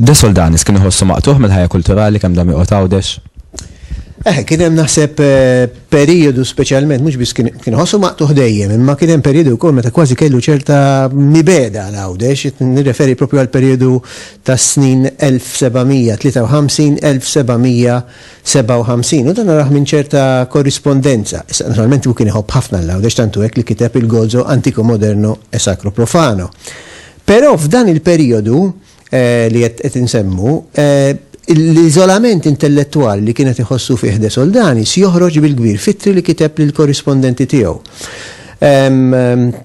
De Soldanis kien iħossu maqtuħ mill-ħajja kulturali kemm dam joqgħod għawdex. Eh, kien hemm naħseb eh, periodu speċjalment mhux biss kien ħossu maqtuħ dejjem, imma kien hemm periodu wkoll meta kważi kellu ċerta mibeda għal għawdex, nirreferi propju għal periodu tas-snin 1753-1757 u dan narah minn ċerta korrispondenza. Issa, naturalment hu kien iħobb ħafna l-Għawdex tantu hekk li kiteb il-Gozo antico moderno e sacro profano. Però f'dan il-perijodu li qed qed insemmu, l-iżolament intellettwali li kien qed iħossu fih De Soldanis joħroġ bil-kbir f'ittri li kiteb lill-korrispondenti tiegħu.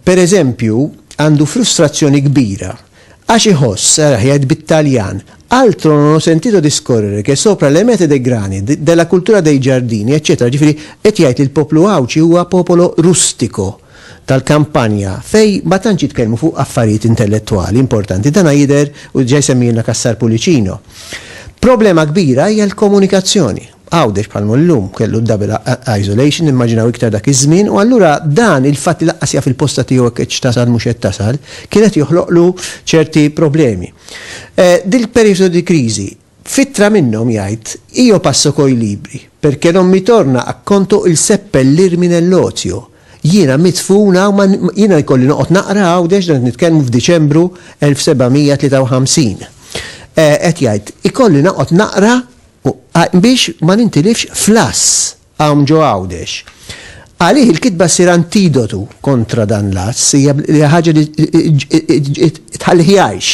Pereżempju, għandu frustrazzjoni kbira Għax iħoss, saraħ jgħid bit-Taljan, Altro non ho sentito discorrere che sopra le mete dei grani, della cultura dei giardini, eċċetera Ġifieri, qed jgħid li l-poplu Għawdxi huwa popolo rustico, tal-kampanja, fejn ma tantx jitkellmu fuq affarijiet intellettwali importanti. Dana jidher, u diġà jsemmihilna Cassar Pullicino. Problema kbira hija l-komunikazzjoni. Għawdex bħal mhu llum, kellu d-double isolation, immaġinaw iktar dak iż-żmien, u allura dan il-fatt li lanqas jaf il-posta tiegħu hekk hekk x'tasal mhux qed tasal, kien qed joħloqlu ċerti problemi. Dil-perijodu di crisi, f'ittra minnhom jgħid, Io passo coi libri, perché non mi torna a conto il seppellirmi nell'ozio. Jiena midfun hawn ma, jiena jkolli noqgħod naqra Għawdex, dan qed nitkellmu f'Diċembru 1753. Qed jgħid, ikolli noqgħod naqra u biex ma nintilifx fl-għass hawn ġo Għawdex. Għalih il-kitba ssir antidotu kontra dan l-għass, hija ħaġa li tħallih jgħix.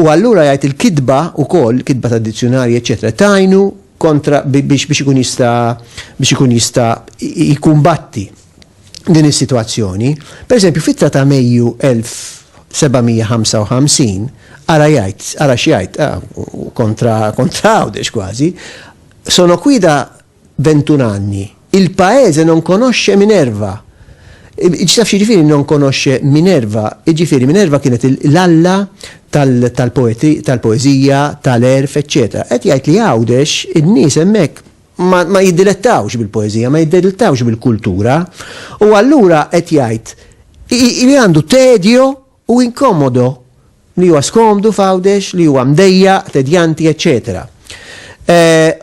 U allura jgħid il-kitba wkoll, kitba tad-dizzjunarji, eċċetera, tgħinu kontra biex ikun jista' biex ikun jista' jkumbatti. din is-sitwazzjoni, pereżempju f'ittra ta' Mejju 1755, ara jgħid, ara x'jgħid, kontra Għawdex kważi, Sono qui da ventun anni, il paese non conosce Minerva. Taf x'jiġifieri non conosce Minerva? Jiġifieri Minerva kienet l-alla tal-poeżija, tal-għerf, eċċetera. Qed jgħid li Għawdex in-nies hemmhekk ma jiddilettawx bil-poeżija, ma jiddilettawx bil-kultura, u allura qed jgħid li għandu tedjo u inkomodo, li huwa skomdu f'Għawdex, li huwa mdejjaq, tedjanti, eċċetera.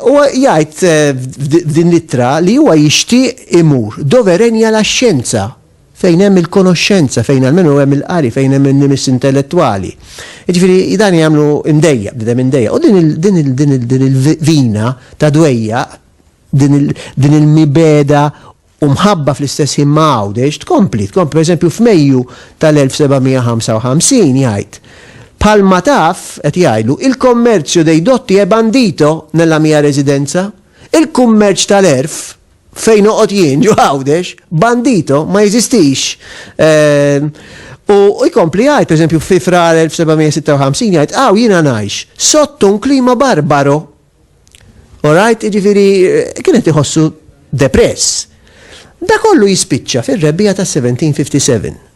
U jgħid f'din l-ittra li huwa jixtieq imur doverenja la xjenza. fejn hemm il-konoxxenza, fejn almenu hemm il-qari, fejn hemm in-nimis intellettwali. Jiġifieri dan jagħmlu imdejjaq, bniedem imdejjaq. U din il-vina ta' dwejjaq, din il-mibegħda u mħabba fl-istess ħin ma' Għawdex tkompli, tkompli. Pereżempju f'Mejju tal-1755 jgħid, Bħalma taf, qed jgħidlu, il commercio dei dotti è bandito nella mia residenza? Il-kummerċ tal-għerf, Fejn noqgħod jien ġo Għawdex, bandito ma jeżistix. Ehm, u jkompli jgħid, pereżempju, fi frar 1756 jgħid, għaw jiena ngħix sotto un klima barbaro. Orajt, ġifiri, eh, kienet iħossu depress. Da kollu jispiċċa fir-rebbija ta' 1757.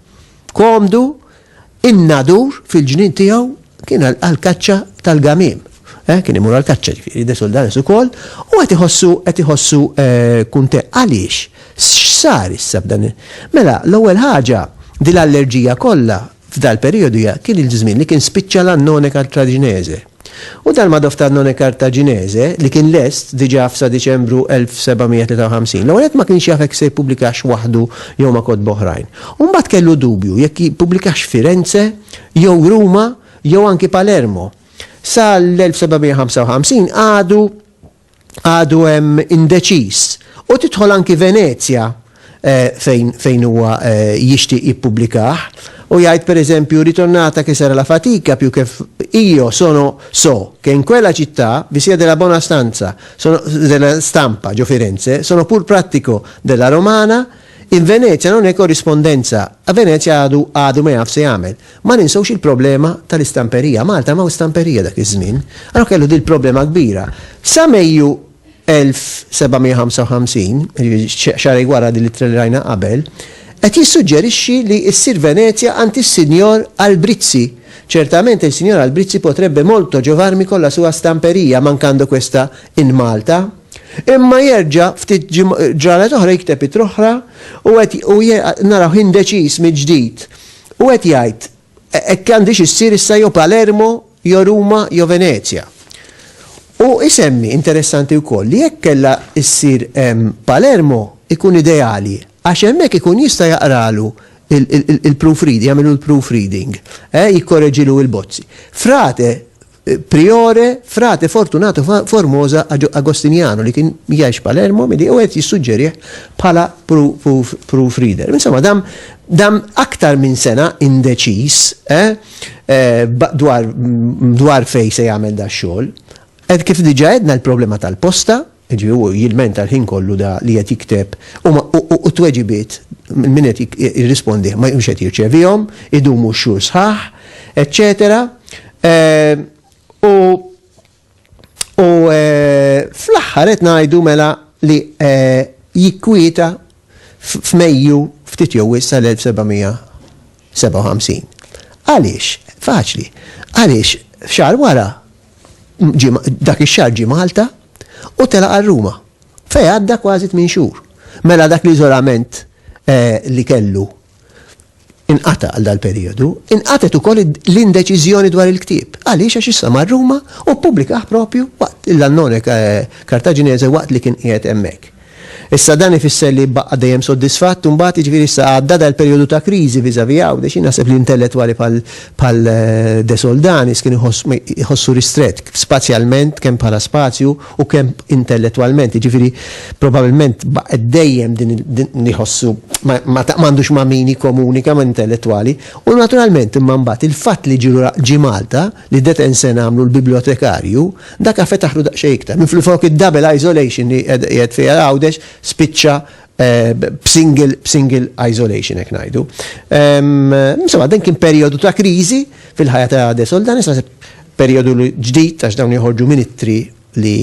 komdu in-nadur fil-ġnien tiegħu kien għal-kaċċa tal-gamim. Eh, kien imur għal-kaċċa ġifieri de soldanis ukoll u qed iħossu qed iħossu eh, kunte għaliex x'sar issa b'dan. Mela l-ewwel ħaġa din l-allerġija kollha f'dal periodu kien il-żmien li kien spiċċa l-annone kartraġinese. U dan ma' Doftarnone Kartaġinese, li kien lest diġà f'sa Diċembru 1753. L-ewwel nett ma kienx jaf jekk se jippubblikax waħdu jew ma' kotba oħrajn. U mbagħad kellu dubju jekk jippubblikax Firenze jew Ruma jew anki Palermo. Sa l-1755 għadu għadu hemm indeċiż u tidħol anki Venezja fejn huwa jixtieq jippubblikah u jgħid pereżempju ritornata che sarà la fatica più che io sono so che in quella città vi sia della buona stanza sono della stampa ġo Firenze sono pur prattico della romana in Venezia non è corrispondenza a Venezia għadu għadu ma jaf se jagħmel Ma ninsewx il-problema tal-istamperija. Malta m'hawn stamperija dak iż-żmien. Allura kellu din il-problema kbira. Sa Mejju 1755, xahrejn wara din l-ittra li rajna qabel, qed jissuġġerixxi li ssir Venezja għand is-Sinjor Albrizzi. Certamente il signor Albrizzi potrebbe molto giovarmi con la sua stamperia mancando questa in Malta. Imma jerġa' ftit ġranet oħra jikteb ittra oħra u qed u naraw indeċiż mill-ġdid. Hu qed jgħid, Hekk għandhiex issir issa jew Palermo, jew Ruma, jew Venezja. Hu jsemmi, interessanti wkoll, li jekk kellha ssir Palermo jkun ideali għax hemmhekk ikun jista' jaqralu l-proofreading, jagħmilu l-proofreading, eh, jikkoreġilu l-bozzi. Frate, Priore, Frate Fortunato Formosa Agostiniano li kien jgħix Palermo milli u qed jissuġġerih bħala proof reader. Insomma, dam dam aktar minn sena indeċiż eh, eh, dwar, dwar fej se jagħmel da xogħol. Ed kif diġa edna l-problema tal-posta, Jiġifieri hu jilmenta l-ħin kollu da li qed jikteb u ma u u t-tweġibiet minn min qed jirrispondih ma mhux qed jirċevihom, idumu x-xhur sħaħ, eċċetera. U u fl-aħħar qed ngħidu mela li jikkwieta f'Mejju ftit jew wisq tal-1700 57. Għaliex? Faċli. Għaliex xar wara dak ix-xahar ġie Malta u telaq għal Ruma fejn għadda kważi tmien xhur. Mela dak l-iżolament li kellu inqata' għal dal-perijodu, inqatgħet ukoll l-indeċiżjoni dwar il-ktieb. Għaliex għax issa mar Ruma u ppubblikah propju waqt l-Annone Kartaġinese waqt li kien qiegħed hemmhekk. Issa dan ifisser li jibqa' dejjem soddisfatt imbagħad, jiġifieri issa għadda dal-perjodu ta' kriżi vis-à-vis Għawdex. Jien naħseb li intellettwali bħal bħal De Soldanis kien iħoss iħossu ristrett spazjalment kemm bħala spazju u kemm intellettwalment, jiġifieri probabilment baqgħet dejjem din din iħossu ma ma m'għandux ma' min jikkomunika ma' intellettwali u naturalment imma mbagħad il-fatt li ġie Malta li Detenzen għamlu l-bibljotekarju Daka fetaħlu daqsxejn iktar. Minflufok id-double isolation li qiegħed fiha Għawdex spiċċa b'single isolation hekk ngħidu. Insomma, dan kien perjodu ta' kriżi fil-ħajja ta' De Soldanis, naħseb perjodu ġdid għax dawn joħorġu ministri li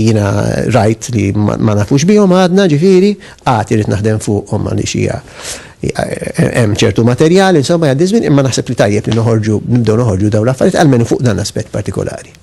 jina rajt li ma nafux bihom għadna ġifiri, għati rrit naħdem fuqhom għalli xija hemm ċertu materjal, insomma għaddi żmien, imma naħseb li tajjeb li noħorġu, nibdew noħorġu dawn l-affarijiet, għalmenu fuq dan aspett partikolari.